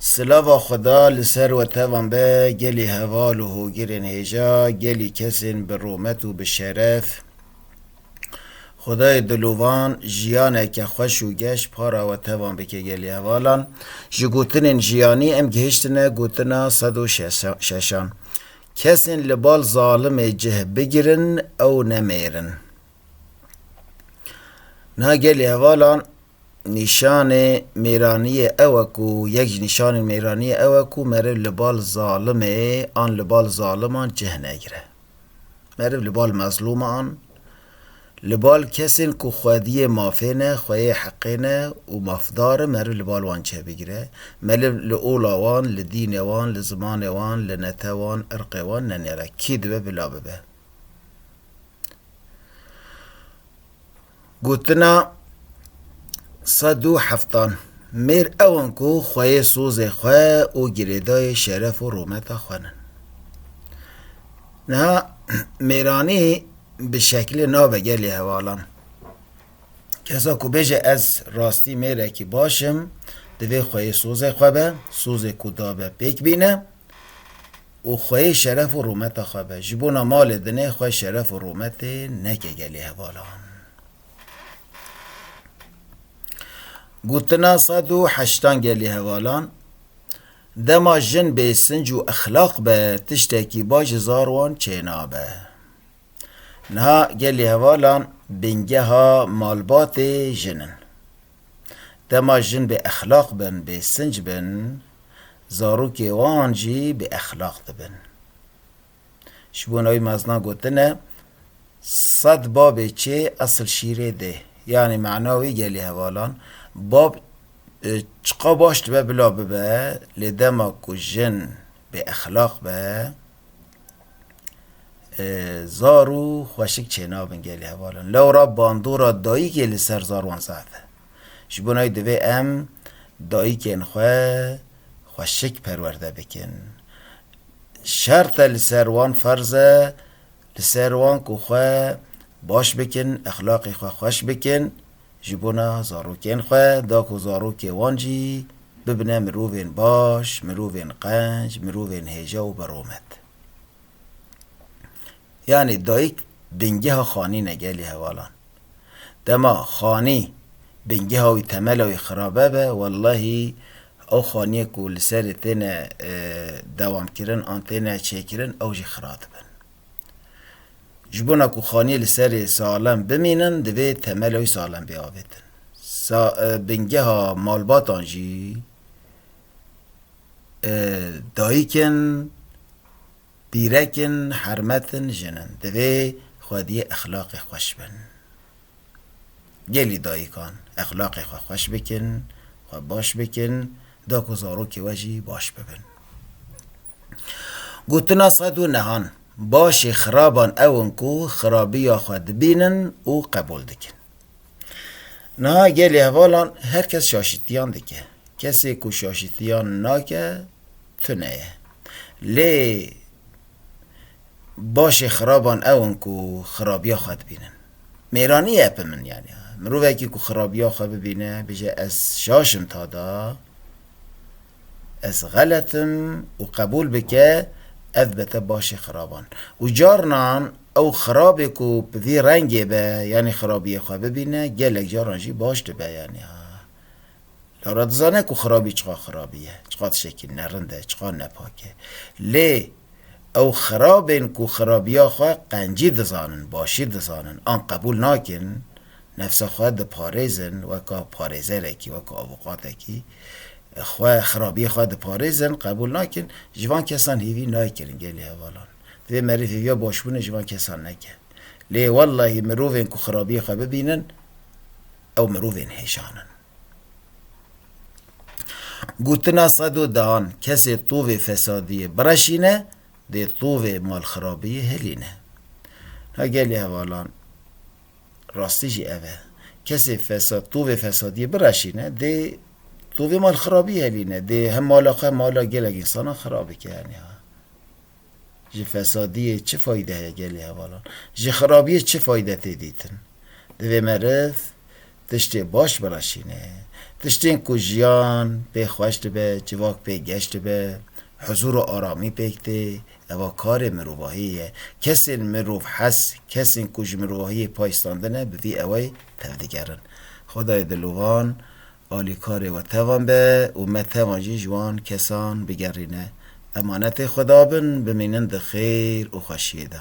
Silava Xweda li ser we tevan be gelî heval û hogirên hêja, gelî kesên bi rûmet û bi şeref. Xwedayê dilovan jiyaneke xweş û geş para we tevan bike gelî hevalan. Ji gotinên jiyanî em gihiştine gotina sed û şeşan. Kesên li bal zalimê cih bigirin ew nemêrin. Na gelê hevalan nîşanê mêraniyê ew e ku yek ji nîşanên mêraniyê ew e ku meriv li bal zalimê an li bal zaliman cih negire. Meriv li bal mezlûman, li bal kesên ku xwediyê mafê ne, xweyê heqê ne û mafdar in meriv li bal wan cih bigire. Meriv li ola wan, li dînê wan, li zimanê wan, li netew wan, irqê wan nenêre. Kî dibe bila bibe. Gotina sed û heftan mêr ew in ku xweyê sozê xwe û girêdayê şeref û rometa xwe nin. Niha mêranî bi şekilê nabe gelê hevalan. Kesa ku bêje ez rastî mêrekî baş im, divê xweyê sozê xwe be, sozê ku dabe pêk bîne, û xwe yê şeref û rûmeta xwe be. Ji bona malê dinê xwe şeref û rûmetê neke gelê hevalan. Gotina sed û heştan gelê hevalan, Dema jin bêsinc û exlaq be tiştekî baş ji zar wan çênabe. Niha gelê hevalan bingeha malbatê jin in. Dema jin bêexlaq bin, bêsinc bin, zarokê wan jî bi exlaq dibin. Ji bo navî meznan gotine, Sed babê çê esil şîrê dê. Yanî mana wî gelê hevalan, bab çiqa baş dibe bila bibe, lê dema ku jin bê exlaq be, zar û xweşik çênabin gelê hevalan. Lewra bandora dayîkê li ser zar wan zehf e. Ji bo navê divê em dayikên xwe xweşik perwerde bikin. Şert e li ser wan ferz e li ser wan ku xwe baş bikin, exlaqê xwe xweş bikin ji bona zarokên xwe da ku zarokê wan jî bibine mirovên baş, mirovên qenc, mirovên hêja û bi romet. Yanî dayîk bingeha xanî ne gelê hevalan. Dema xanî bingeha wî temela wî xirabe be wellahî ew xanîyê ku li serê têne dewamkirin an têne çêkirin ew jî xira dibin. Ji bona ku xanîyê li serê salem bimînin divê temela wî salem bê avêtin. Sa bingeha malbatan jî Dayik in, dîrek in, hermet in, jin in. Divê xwediyê exlaqê xweş bin. Gelî dayikan exlaqê xwe xweş bikin, xwe baş bikin da ku zarokê we jî baş bibin. Gotina sed û nehan, Başê xiraban ew in ku xirabiya xwe dibînin û qebûl dikin. Niha gelê hevalan her kes şaşîtiyan dike. Kesê ku şaşîtiyan nake tune ye. Lê başê xiraban ew in ku xirabiya xwe dibînin. Mêranî ye epe min yanî. Mirovekî ku xirabiya xwe bibîne bije ez şaş im tada. Ez xelet im û qebûl bike ev be te başê xiraban. Û carinan ew xirabê ku bi vî rengê be yanî xirabiyê xwe bibîne gelek caran jî baş dibe yanî ha. Lara dizane ku xirabî çiqa xirabî ye, çiqa tiştekî nerind e, çiqa nepak e. Lê ew xirabên ku xirabiya xwe qencî dizanin, başî dizanin an qebûl nakin, Nefsa xwe diparêzin weka parêzerekî, weka avûqatekî. Xwe, xirabiyê xwe diparêzin, qebûl nakin. Ji van kesan hêvî nayê kirin gelê hevalan. Divê merîv hêviya başbûnê ji van kesan neke. Lê wellahî mirovên ku xirabiyê xwe bibînin ew mirovên hêşan in. Gotina sedo dehan, Kesê tovê fesadiyê bireşîne, dê tovê malxirabiyê hilîne. Na gelê hevalan. Rastî jî ev e. Kesê fesad tovê fesadiyê bireşîne dê tovê malxirabî helîne. Dê hem mala xwe hem mala gelek însanan xirab bike yanî ha. Ji fesadiyê çi fayde heye gelê hevalan? Ji xirabiyê çi fayde tê dîtin? Divê meriv tiştê baş bireşîne. Tiştên ku jiyan pê xweş dibe, civak pê geş dibe, huzûr û aramî pêk tê, Eva karê mirovahiyê ye. Kesên mirov hes, kesên ku ji mirovahiyê pay standine bi vî ewey tevdigerin. Xwedayê dilovan alîkarê we tevan be û me tevan jî ji wan kesan bigerîne. Emanetê Xweda bin, bimînin di xêr û xweşiyê de.